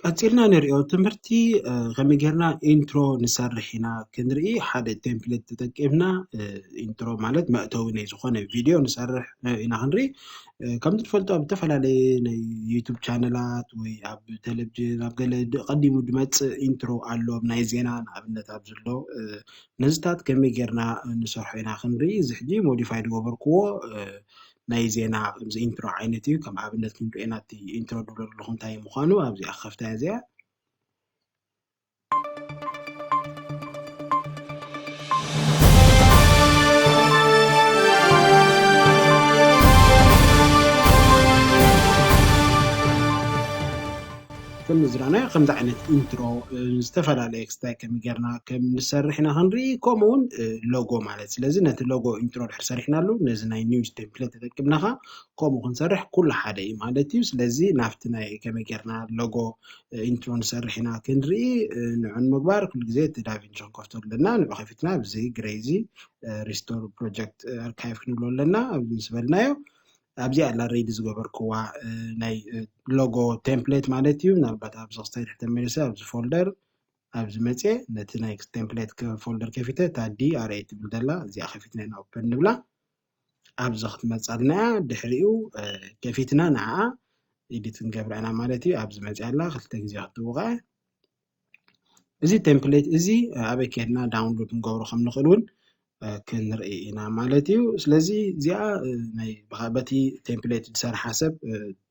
ቀጺልና ንሪኦ ትምህርቲ ከመይ ጌርና ኢንትሮ ንሰርሕ ኢና ክንርኢ ሓደ ቴምፕሌት ተጠቂምና ኢንትሮ ማለት መእተዊ ናይ ዝኾነ ቪድዮ ንሰርሕ ኢና ክንርኢ ከምዚ ትፈልጦ ኣብ ዝተፈላለየ ናይ ዩቱብ ቻነላት ወይ ኣብ ቴሌቭዥን ኣብ ገለ ቀዲሙ ድመፅእ ኢንትሮ ኣሎ ናይ ዜና ንኣብነት ኣብ ዘሎ ነዚታት ከመይ ጌርና ንሰርሖ ኢና ክንርኢ እዚ ሕጂ ሞዲፋይ ዝገበርክዎ ናይ ዜና ከምዚ ኢንትሮ ዓይነት እዩ ከም ኣብነት ክንሪኦ ኢና እቲ ኢንትሮ ድብሎ ዘለኹ እንታይ ምዃኑ ኣብዚኣ ከፍታያ እዚኣ ከም ዝረኣናዮ ከምዚ ዓይነት ኢንትሮ ዝተፈላለየ ክስታይ ከም ጌርና ከም ንሰርሕ ኢና ክንርኢ ከምኡ እውን ሎጎ ማለት ስለዚ ነቲ ሎጎ ኢንትሮ ድሕር ሰሪሕናሉ ነዚ ናይ ኒውስ ቴምፕሌት ተጠቂምና ከ ከምኡ ክንሰርሕ ኩሉ ሓደ እዩ ማለት እዩ ስለዚ ናብቲ ናይ ከመይ ጌርና ሎጎ ኢንትሮ ንሰርሕ ኢና ክንርኢ ንዑ ንምግባር ኩሉ ግዜ እቲ ዳቪንቺ ክንከፍቶ ኣለና ንዑ ከፊትና ኣብዚ ግሬዚ ሪስቶር ፕሮጀክት ኣርካይቭ ክንብሎ ኣለና ኣብዚ ምስ በልናዮ ኣብዚ ኣላ ሬዲ ዝገበርክዋ ናይ ሎጎ ቴምፕሌት ማለት እዩ ምናልባት ኣብዚ ክስታይ ትሕተ መለሰ ኣብዚ ፎልደር ኣብዚ መፅኤ ነቲ ናይ ቴምፕሌት ፎልደር ከፊተ እታ ዲ ኣር ኤ ትብል ዘላ እዚኣ ከፊትና ኢና ኦፐን ንብላ ኣብዚ ክትመፃልና እያ ድሕሪኡ ከፊትና ንዓኣ ኢዲት ንገብራ ኢና ማለት እዩ ኣብዚ መፅያ ኣላ ክልተ ግዜ ክትውቃዕ እዚ ቴምፕሌት እዚ ኣበይ ከይድና ዳውንሎድ ክንገብሮ ከም ንኽእል እውን ክንርኢ ኢና ማለት እዩ። ስለዚ እዚኣ ናይ በቲ ቴምፕሌት ዝሰርሓ ሰብ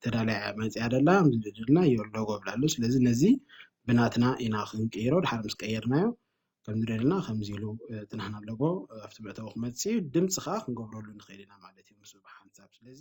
ተዳልያ መፅያ ደላ ዝድልና ሎጎ ይብላ ኣሎ ስለዚ ነዚ ብናትና ኢና ክንቅይሮ ድሓር ምስ ቀየርናዮ ከምዚ ደለና ከምዚ ኢሉ እቲ ናህና ሎጎ ኣብቲ መእተዊ ክመፅእ እዩ ድምፂ ከዓ ክንገብረሉ ንኽእል ኢና ማለት እዩ ምስኡ ብሓንሳብ ስለዚ